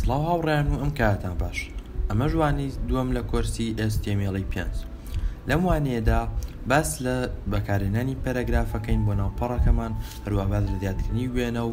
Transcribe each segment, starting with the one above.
سڵاو هاوڕیان و ئەم کاتان باش ئەمە ژوانی دووەم لە کۆرسی ئێستێمێڵی پێنج لەم وانەیەدا باس لە بەکارێنانی پەرەگرافەکەین بۆ ناوپەڕەکەمان هەروە باز لە زیادکردنی وێنە و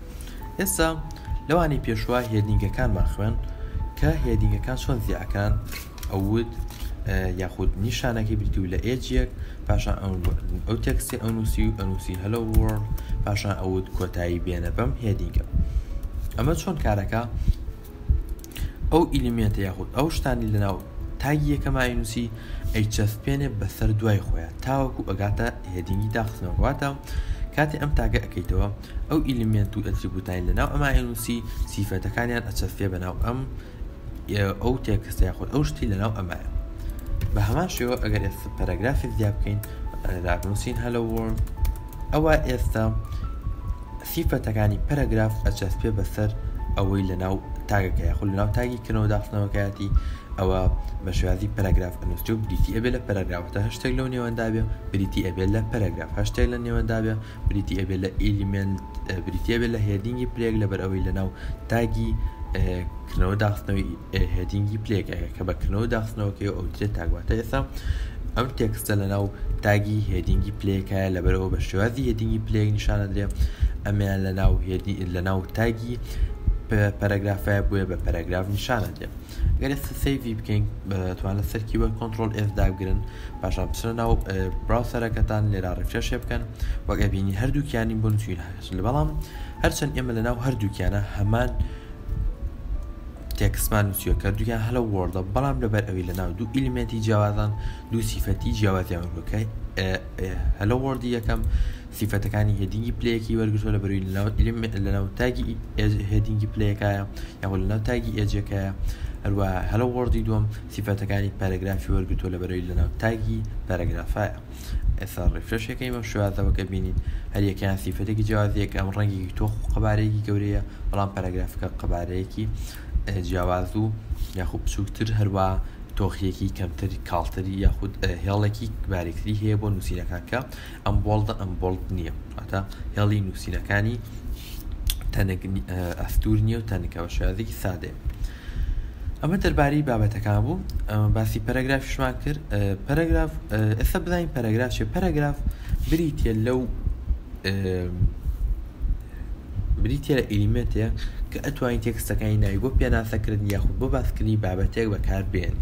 ئێستا لەوانی پێشوە هێدینگەکانمان خوێن کە هێدینگەکان چۆن زیعەکان ئەوت یاخود نیشانەکەی بریتی و لە ئێجیەک پاشان ئەو تەکسی ئەنووسی و ئەنووسی هەلە وۆرڵ پاشان ئەوت کۆتایی بێنە بەم هێدینگە ئەمە چۆن کارەکە ئەو ئیلیمنتە یاخود ئەو شتانی لەناو تاگی یەکەماینوسی ئەیچەس پێێ بەسەر دوای خۆیان تاوەکو ئەگاتە هێدینگی داخستنەوەواتە کاتی ئەم تاگە ئەەکەیتەوە ئەو ئیلیمێنت و ئەتریبوتانەی لەناو ئەم ئایەنوسی سیفەتەکانیان ئەچەسپێ بەناو ئەم ئەو تێکستە یاخود ئەو شتی لەناو ئەمایە بە هەمان شێوە ئەگەر ئێستا پەرەگرافێک زیا بکەین دابنووسین هەلە وۆرد ئەوە ئێستا سیفەتەکانی پەرەگراف ئەچەسپێ بەسەر ئەوەی لەناو تاگەکە یاخود لەناو تاگی کردنەوە داخستنەوەکەیەتی ئەوە بە شێوازی پەرەگراف ئەنووسێ و بریتی ئەبێ لە پەرەگرافەتە هەشتێک لەو نێوەندابێ بریتی ئەبێت لە پەرەگراف هەشتێک لە نێوەندابێ بریتی ئەبێت لە ئیلیمنت بریتە بێت لە هێدینگی پلێک لەبەر ئەوەی لەناو تاگی کردنەوە داخستنەوەی هێدینگی پلێکەکە کە بەکردنەوە داخستنەوەکەی ئەو درێت تاگواتە ئێستا ئەم تێکستە لەناو تاگی هێدینگی پلێکایە لەبەرەوە بە شێوازی هێدینگی پلێک نیشانە درێ ئەمیان لەناو هێدی لەناو تاگی پەرەگرافە بووە بە پەرەگراف نیشانە دێ گەر ئێستا سەیڤی بکەین توان لەسەر کیبۆرد کۆنترۆل ئێس دابگرن پاشان بچنە ناو براوسەرەکەتان لێرا ڕفرێشێ بکەن وەگە بینی هەردووکیانی بۆ نووسین هاش لە بەڵام هەرچەند ئێمە لە ناو هەردووکیانە هەمان تێکسمان نووسیوە کە دوویان هەلە وەردە بەڵام لەبەر ئەوی لە ناو دوو ئیلمێنتی جیاوازان دوو سیفەتی جیاوازیان وەکە هەلە وەردی یەکەم سیفەتەکانی هێدینگی پلەیەکەی وەرگرتووە لە بەرووی لەناو ئیلم لەناو تاگی ئێج هێدینگی پلەیەکایە یاخۆ لەناو تاگی ئێجەکەیە هەروە هەلۆ وۆرڵدی دووەم سیفەتەکانی پەرەگرافی وەرگرتووە لە بەرووی لەناو تاگی پەرەگرافایە ئێستا ڕیفرەشەکەی بەم شێوازەوە کە بینین هەر یەکەیان سیفەتێکی جیاوازیەک ئەم ڕەنگێکی تۆخ و قەبارەیەکی گەورەیە بەڵام پەرەگرافەکە قەبارەیەکی جیاواز و یاخود بچووکتر هەروە تۆخیەکی کەمتری کاڵتری یاخود هێڵێکی باریکتری هەیە بۆ نووسینەکان کە ئەمبۆڵدە ئەمبۆڵد نییە واتە هێڵی نووسینەکانی تەنگ ئەستور نییە و تەنکە بە شێوازێکی سادێ ئەمە دەربارەی بابەتەکان بوو باسی پەرەگرافشمان کرد پەرەگراف ئێستا بزانین پەرەگراف چێ پەرەگراف بریتە لەو بریتییە لە ئیلیمێنتێک کە ئەتوانین تێکستەکانی ناوی بۆ پێناسەکردن یاخود بۆ باسکردنی بابەتێک بەکار بێن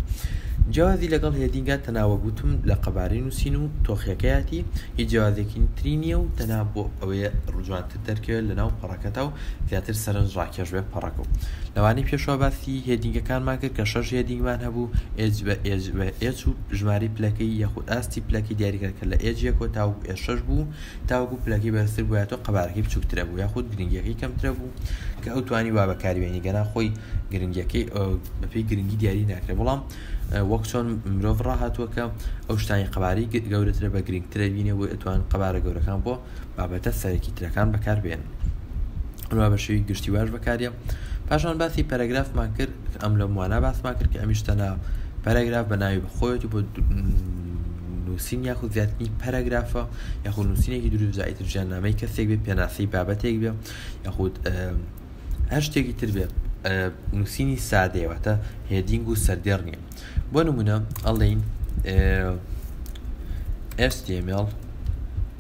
جیازی لەگەڵ هێدینگە تەناوە گوتم لە قەبارەی نووسین و تۆخیەکەیەتی هی جیازێکی تری نییە و تەنا بۆ ئەوەیە ڕجوانتر دەرکەوێت لە ناو پەڕەکەتا و زیاتر سەرنج ڕاکێش بێ پەڕەکە و لەوانەی پێشوا باسی هێدینگەکانمان کرد کە شەش هێدینگمان هەبوو ئێج بە ئێج بە ئێج و ژماری پلەکەی یاخود ئاستی پلەکەی دیاریکرد کە لە ئێجیە کۆتا و ئێشەش بوو تاوەکو پلەکەی بەرزتر بوایەتەوە قەبارەکەی بچووکترە بوو یاخود گرنگیەکەی کەمترە بوو کە ئەو توانی وا بەکاری بێنی گەنا خۆی گرنگیەکەی بەپی گرنگی دیاری ناکرێ بەڵام وەک چۆن مرۆڤ ڕاهاتووە کە ئەو شتانی قەباری گەورەترە بە گرنگترە بینێ بۆ ئەتوان قەبارە گەورەکان بۆ بابەتە سەرەکی ترەکان بەکار بێن ڕوا بە شێوی گشتی واش بەکاریە پاشان باسی پەرەگرافمان کرد ئەم لە موانا باسمان کرد کە ئەمیشتەنا پەرەگراف بە ناوی بەخۆیەتی بۆ نووسین یاخود زیاتنی پەرەگرافە یاخود نووسینێکی دروست ئیتر ژیان نامەی کەسێک بێ پێناسەی بابەتێک بێ یاخود هەر شتێکی تر بێت نووسینی سادەیەوەتە هێدینگ و سەردێڕ نیە بۆ نمونە ئەڵین ئێستێمێڵ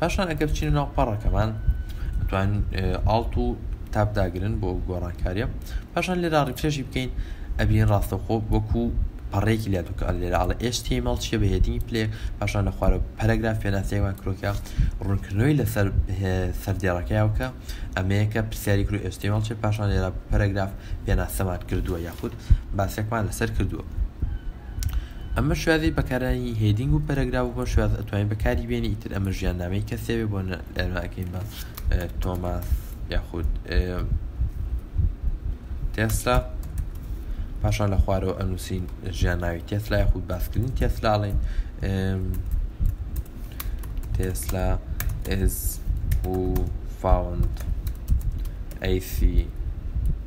پاشان ئەگەر بچینە ناو پەڕەکەمان توان ئاڵت و تاب داگرن بۆ گۆڕانکاریە پاشان لێرا ڕیفرێژی بکەین ئەبین ڕاستەخۆ وەکو پەڕێکی لە دوکە لێرە ئاڵە ئێستی مەڵ چیە بە هێدینی پلێ پاشان لە خوارە پەرەگراف پێناسەیەوان کرۆکە ڕوونکردنەوەی لەسەر سەردێڕەکەیاوکە ئەمەیەکە پرسیاری کرو ئێستی مەڵ چێ پاشان لێرە پەرەگراف پێناسەمان کردووە یاخود باسێکمان لەسەر کردووە ئەمە شوێنی بەکارانی هێدینگ و پەرەگراف بۆ شوێن ئەتوانین بەکاری بێنی ئیتر ئەمە ژیان نامەی کەسێوێ بۆ لەراکەین بە تۆماس یاخود تێستا پاشان لە خوارەوە ئەنووسین ژیان ناوی تێسلا یاخود باسکردنی تێسلاڵێن تێسلا ئێز و فاوند ئەیسی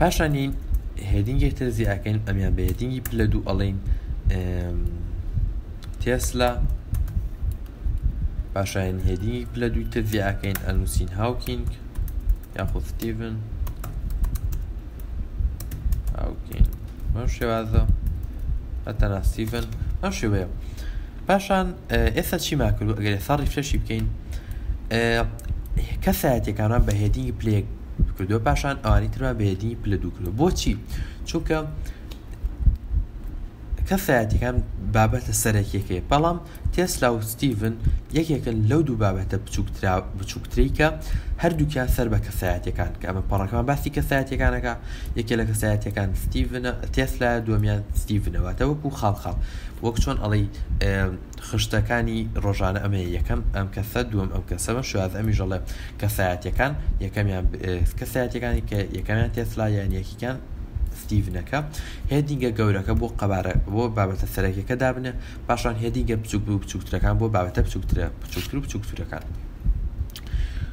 پاشانی هێدینگێک تر زیاکەین ئەمیان بە هێدینگی پلە دوو ئەڵین تێسلا پاشایان هێدینگی پلە دوو تر زیاکەین ئەنووسین هاوکینگ یاخود ستیڤن هاوکینگ بەم شێوازە ئەتەنا ستیڤن ئەم شێوەیە پاشان ئێستا چیمان کردو ئەگەر ئێستا ریفرشی بکەین کەسایەتەکانمان بە هێدینگی پلێک کردو پاشان ئەوانی ترمان بە هێدینگی پلە دوو کردو بۆچی چونکە کەسایەتەکان بابەتە سەرەکیەکەی بەڵام تێسلا و ستیڤن یەکێکن لەو دوو بابەتە بچووکترا بچووکتریکە هەردووکیان سەر بە کەسایەتەکان کە ئەمە پەڕەکان باسی کەسایەتەکانەکە یەکێ لە کەسایەتەکان ستیڤنە تێسلا دومیان ستیڤنەوەتەوەکو خاڵ خاڵ وەک چۆن ئەڵێی خشتەکانی ڕۆژانە ئەمێ یەکەم ئەم کەسە دووەم ئەم کەسە بەم شواز ئەمیش ئەڵێ کەسایەتەکان یەکەمیان کەسایەتەکانی کە یەکەمیان تێسلا یان یەکیکان ستیڤنەکە هێدینگە گەورەکە بۆ قەبارە بۆ بابەتە سەرەکیەکە دابنێ پاشان هێدینگە بچوک بچووکترەکان بۆ بابەتە بچووکترە بچووکتر و بچووکترەکان.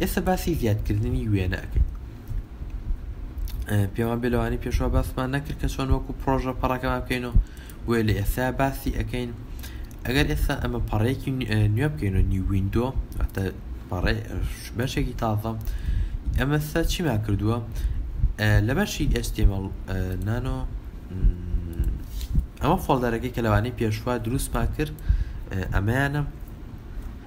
ئێستا باسی زیادکردنی وێنە ئەکەین پێوان بێ لەوانی پێشوا باسمان نەکرد کە چۆن وەکو پرۆژە پەڕەکەمان بکەین و بۆیە لە ئێستا باسی ئەەکەین ئەگەر ئێستا ئەمە پەڕێکی نوێ بکەین و نی وینندۆ پەڕێ بەشێکی تازە ئەمەستا چیما کردووە لە بەشی ئێستێمەڵ نانۆ ئەمە فۆڵدەرەکەی کە لەوانی پێشوا دروستمان کرد ئەمەیانە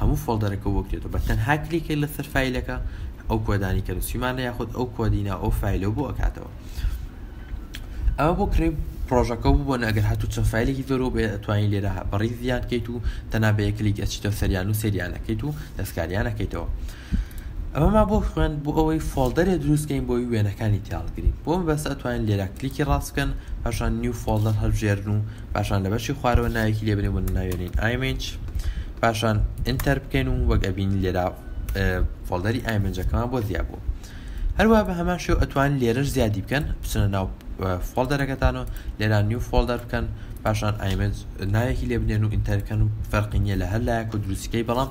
هەموو فۆڵدەرەکە بۆ کرێتەوە بە تەنها کلیکێک لەسەر فایلەکە ئەو کۆدانی کە نووسیمانە یاخود ئەو کۆدی ناو ئەو فایلەوە بۆ ئەکاتەوە ئەوە بۆ کڕی پرۆژەکە بوو بۆن ئەگەر هاتوو چەند فیلێکی زۆرۆ بێ ئەتوانین لێرە بەڕی زیادکەیت و تەنابەیە کلیک ئەچیتە سەریان و سریانەکەیت و دەستکاریانەکەیتەوە ئەمەمان بۆ خوێند بۆ ئەوەی فۆڵدەرێ دروستکەین بۆی وێنەکانی تیاڵگرین بۆم بەس ئەتوانین لێرا کلیکی ڕاست بکەن پاشان نیو فۆڵدەر هەڵبژێرن و پاشان لە بەشی خوارەوە ناوێکی لێبنێ بۆ ناوێنین ئایمنج پاشان ئینتەر بکەین و وەک ئەبین لێرا فۆڵدەری ئایمنجەکەمان بۆ زیاد بوو هەروە بە هەمان شێو ئەتوان لێرەش زیادی بکەن بچنە ناو فۆڵدەرەکەتان و لێرا نیو فۆڵدەر بکەن پاشان ئایمنج ناوێکی لێبنێن و ئینتەرکەن و فەرقی نیە لە هەر لایەک و دروستەکەی بەڵام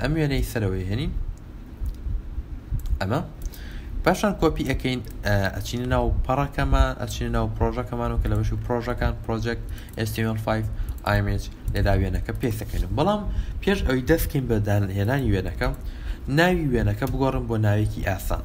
ئەم وێنەی سەرەوەی هێنین ئەمە پاشان کۆپی ئەەکەین ئەچین ناو پەڕەکەمان ئەچین ناو پرۆژەکەمان و کە لە بەشی پرۆژەکان پرۆژێک STM5 ئایمج لێدا وێنەکە پێسەکەین بەڵام پێش ئەوی دەستکەین بە داهێنانی وێنەکە ناوی وێنەکە بگۆڕم بۆ ناوێکی ئاسان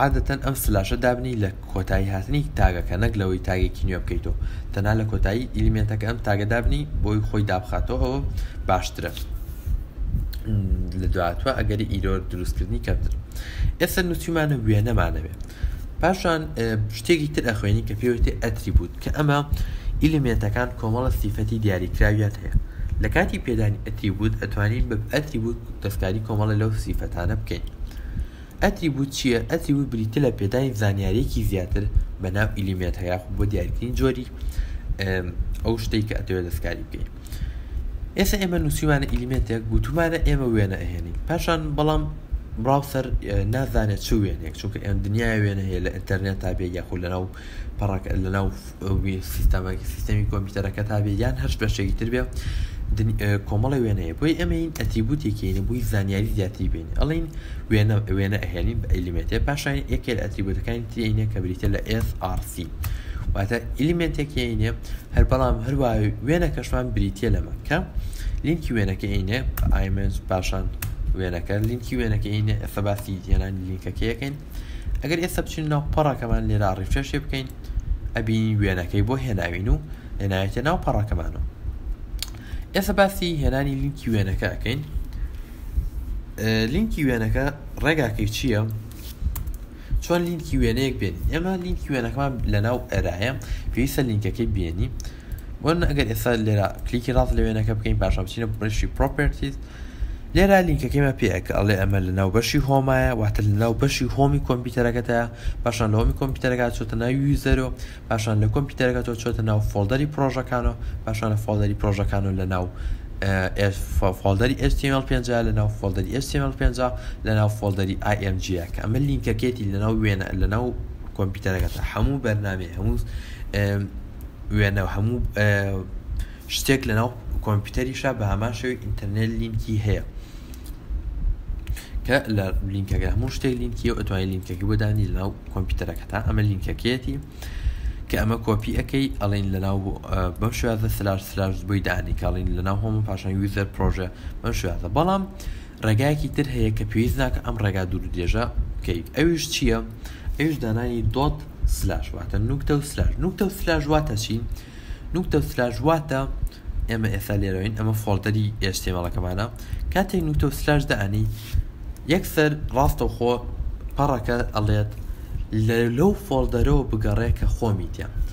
عادەتەن ئەم سلاشە دابنی لە کۆتایی هاتنی تاگەکە نەک لەوەی تاگێکی نوێ بکەیتەوە تەنها لە کۆتایی ئیلیمنتەکە ئەم تاگە دابنی بۆی خۆی دابخاتەوە ئەوە باشترە لە دواتوە ئەگەری ئیرۆر دروستکردنی کەمتر ئێستا نووسیمانە وێنەمانەوێت پاشان شتێکی تر ئەخوێنی کە پێوتی ئەتریبوت کە ئەمە ئیلیمێنتەکان کۆمەڵە سیفەتی دیاریکراویان هەیە لە کاتی پێدانی ئەتریبوت ئەتوانین بە ئەتریبوت دەستکاری کۆمەڵە لەو سیفەتانە بکەین ئەتریبوت چییە ئەتریبوت بریتە لە پێدانی زانیارێکی زیاتر بە ناو ئیلیمێت هەیە خو بۆ دیارترین جۆری ئەو شتێک کە ئەتەوێت دەستکاری بکەین ئێستا ئێمە نووسیمانە ئیلیمێتێک گوتومانە ئێمە وێنە ئەهێنین پاشان بەڵام براوسەر نازانێت چ وێنێک چونکە ئێن دنیای وێنە هەیە لە ئینتەرنێت تا بێ یاخود لەناو پەڕک لەناو سیستەمەکە سیستەمی کۆمپیوتەرەکە تا بێ یان هەرش بەشێکی تر بێ کۆمەڵی وێنەیە بۆی ئەمەین ئەتریبوتێکینە بووی زانیاری زیاتری بین ئەڵین وێنە وێنە ئەهێنین بە ئەلیمێتێ پاشان یەکێل ئەتریبوتەکانی ترینە کە بریتە لە SRC واتە ئلیمنتێکینە هەر بەڵام هەروە وێنە کەشمان بریتە لەمە کە لینکی وێنەکە ئینێ ئایمنج پاشان وێنەکە لینکی وێنەکە ئینە ئێستا باسی هێنانی لینکەکەیەکەین ئەگەر ئێستا بچین ناو پەڕەکەمان لێرا ڕیفرێشێ بکەین ئەبینین وێنەکەی بۆ هێناوین و هێنایەتە ناو پەڕەکەمانەوە ئێستا باسی هێنانی لینکی وێنەکە ئەکەین لینکی وێنەکە ڕێگاکەی چییە؟ چۆن لینکی وێنەیەک بێنین ئێمە لینکی وێنەکەمان لە ناو ئەرایە پێویستە لینکەکەی بێنی وەرن ئەگەر ئێستا لێرە کلیکی ڕاست لە وێنەکە بکەین پاشان بچینە بڕشی پرۆپرتیز لێرا لینکەکەمە پێەکە ئەڵێ ئەمە لە ناو بەشی هۆمایە واتە لە ناو بەشی هۆمی کۆمپیوتەرەکەتە پاشان لە هۆمی کۆمپیوتەرەکە چۆتە ناو یوزەرۆ پاشان لە کۆمپیوتەرەکە تۆ چۆتە ناو فۆڵدەری پرۆژەکانەوە پاشان لە فۆڵدەری پرۆژەکانەوە لە ناو فۆڵدەری HTML 5 لە ناو فۆڵدەری HTML 5 لە ناو فۆڵدەری IMG کە ئەمە لینکەکەێتی لە ناو وێنە لە ناو کۆمپیوتەرەکەتە هەموو بەرنامێ هەموو وێنەو هەموو شتێک لەناو کۆمپیوتەریشا بە هەمان شێوی ئینتەرنێت لینکی هەیە کە لە لینکەکە هەموو شتێک لینکی و ئەتوانین لینکەکە بۆ دانی لەناو کۆمپیوتەرەکە تا ئەمە لینکەکەیەتی کە ئەمە کۆپی ئەەکەی ئەڵین لەناو بەم شوازە سلاش سلاش بۆی دانی کاڵین لەناو هۆم پاشان یوزەر پرۆژە بەم شوازە بەڵام ڕێگایەکی تر هەیە کە پێویست ناکە ئەم ڕێگا دوور درێژە بکەیت ئەویش چییە؟ ئەویش دانانی دۆت سلاش واتە نوکتە و سلاش نوکتە و سلاش واتە چی؟ نوکتە و سلاش واتە ئێمە ئێستا لێرەوەین ئەمە فۆڵدەری ئێشتێمەڵەکەمانە کاتێک نوکتە و سلاش دانی یەکسەر ڕاستەوخۆ پەڕەکە ئەڵێت لەو فۆڵدەرەوە بگەڕێ کە خۆمیتە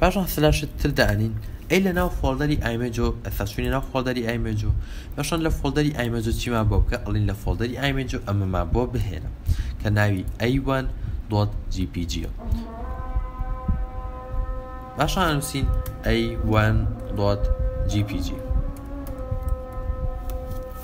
پاشان سلاشت تر دانین ئەی لە ناو فۆڵدەری ئایمێجۆ ئەسا چوینە ناو فۆڵدەری ئایمێجۆ پاشان لە فۆڵدەری ئایمێجۆ چیمان بۆ بکە ئەڵین لە فۆڵدەری ئایمێجۆ ئەمەمان بۆ بهێنە کە ناوی ئەیوان دۆت جی پی جیە باشان نووسین ئەیوان دۆت جی پی جی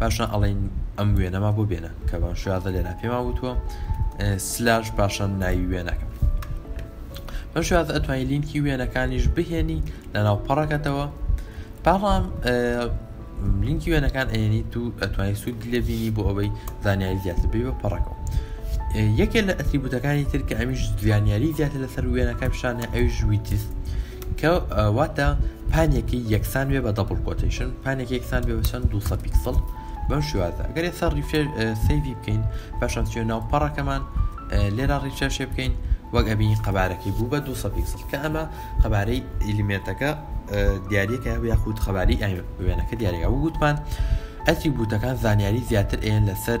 پاشان ئەڵێن ئەم وێنەما بۆ بێنە کە بەم شێوازە لێرا پێما وتووە سلاش پاشان ناوی وێنەکە بەم شێوازە ئەتوانین لینکی وێنەکانیش بهێنی لە ناو پەڕەکەتەوە پاڵام لینکی وێنەکان ئەێنی تو ئەتوانانی سوود لێبینی بۆ ئەوەی زانیاری زیاتر بێ بە پەڕەکەەوە یەکێ لە ئەتریبوتەکانی تر کە ئەمیش زیانیاری زیاتر لەسەر وێنەکە پیشانە ئەویش ویتیست کە واتە پانێکی یەکسان بێ بە دەبڵ کۆتیشن پانێکی یەکسان بێ بەچەند دو پیکسڵ بەم شوازە گەرێ سەر ریفێر سەیوی بکەین پاشان چێ ناو پەڕەکەمان لێرا ڕیچەشێ بکەین وەک ئەبینی قەبارەکەی بوو بە دو پیکسڵ کە ئەمە قەبارەی ئیلیمێنتەکە دیارەکە یاخود خەباری وێنەکە دیارەکە وگوتمان ئەتری بوتەکان زانیاری زیاتر ئێن لەسەر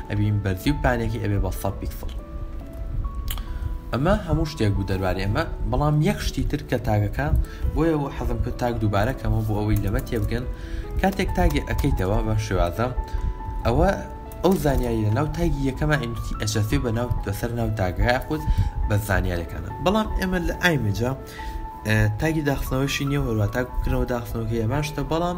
ئەبین بەرزی و پانێکی ئەبێ بە سەد پیکسڵ ئەمە هەموو شتێک بوو دەربارەی ئەمە بەڵام یەک شتی تر کە تاگەکە بۆیە بۆ حەزم کرد تاک دووبارە کەمەوە بۆ ئەوەی لەمە تێبگەن کاتێک تاگێ ئەەکەیتەوە بەم شێوازە ئەوە ئەو زانیاری لە ناو تاگی یەکەمە ئینوسی ئەچەسێ بە ناو بەسەر ناو تاگەکە خود بە زانیارەکانە بەڵام ئێمە لە ئایمجا تاگی داخستنەوەشی نیە هەروە تاک بکردنەوە داخستنەوەکە یەماشتە بەڵام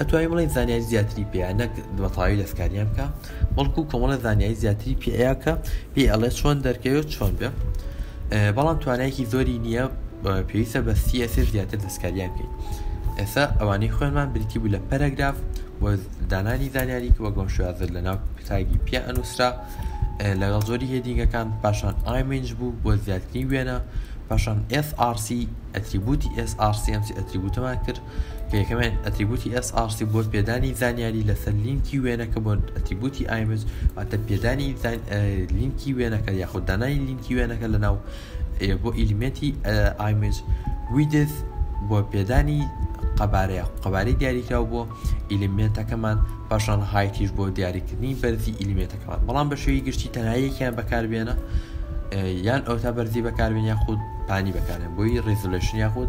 ئەتوانی بڵێی زانیاری زیاتری پێیە نەک بەتەواوی دەستکاریان بکە بەڵکو کۆمەڵە زانیاری زیاتری پێەیە کە پێ ئەڵێ چۆن دەرکەوێت چۆن بێ بەڵام توانایەکی زۆری نییە پێویستە بە سیئسێ زیاتر دەستکاریان بکەیت ئێستا ئەوانەی خوێنمان بریتی بوو لە پەرەگراف و دانانی زانیاری کە وەگەم شوازر لە ناو تاگی پێ ئەنووسرا لەگەڵ زۆری هێدینگەکان پاشان ئایمنج بوو بۆ زیاتری وێنە پاشان SRC ئەتریبوتی SRCMC ئەتریبوتەمان کرد کە یەکەمیان ئەتریبوتی SRC بۆ پێدانی زانیاری لەسەر لینکی وێنەکە بۆ ئەتریبوتی ئایمج واتە پێدانی لینکی وێنەکە یاخود دانانی لینکی وێنەکە لە ناو بۆ ئیلیمێتی ئایمج ویدز بۆ پێدانی قەبارەیە قەبارەی دیاریکراو بۆ ئیلیمێنتەکەمان پاشان هایتیش بۆ دیاریکردنی بەرزی ئیلیمێتەکەمان بەڵام بە شێوی گشتی تەنایەکیان بەکاربێنە یان ئەوتا بەرزی بەکاربێن یاخود پانی بەکارێن بۆی ڕێزلشن یاخود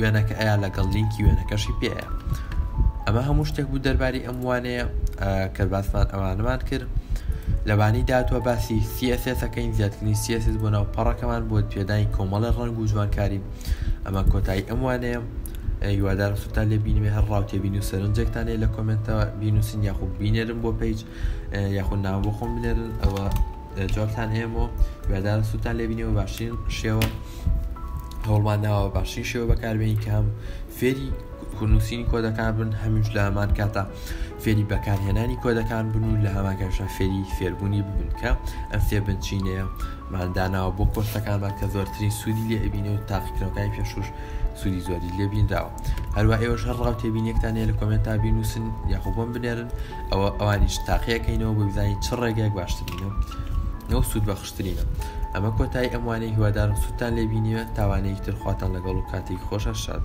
وێنەکە ئەیا لەگەڵ لینکی وێنەکەشی پێەیە ئەمە هەموو شتێک بوو دەرباری ئەم وانەیە کە باسمان ئەوانمان کرد لەبانی داتوە باسی سیەسەکەین زیاترنی سیەس بۆ ناو پەڕەکەمان بۆ پێدانی کۆمەڵی ڕنگ و جوانکاری ئەمە کۆتایی ئەم وانەیە هیوادار سوتا لێ بینێ هەر ڕاوتێ بین و سەرنجێکتانێ لە کۆمنتەوە بینوسین یاخود بینێرم بۆ پیج یاخود ناو بۆ خۆم بنێرن ئەوە جوابتان هەیە بۆ وێدار سووتان لێبینەوە باشترین شێوە هەوڵمان داوە باشترین شێوە بەکاربیین کە هەم فێری کورنووسین کۆدەکان بن هەمیش لە هەمان کاتە فێری بەکارهێنانی کۆدەکان بن و لە هەماکەشە فێری فێربوونی ببن کە ئەم فێ بنچینەیە ماداناوە بۆ کۆرسەکانمان کە زۆرترین سوودی لێ ئەبینێ و تاقیکرەکانی پێشوش سوودی زۆری لێبینراوە هەروە ئێوەش هەر ڕاو تێبینێکتانەیە لە کۆمنتا بینوسن یاخۆ بۆم بنێرن ئەوە ئەوانیش تاقیەکەینەوە بۆ بزانین چ ڕێگەیەک باشترینە نەو سوود بەخشترینە ئەمە کۆتایی ئەموانەی هیوادارم سووتان لێبینیوە تاوانەیەکی ترخواتان لەگەڵ و کاتێک خۆشە شاد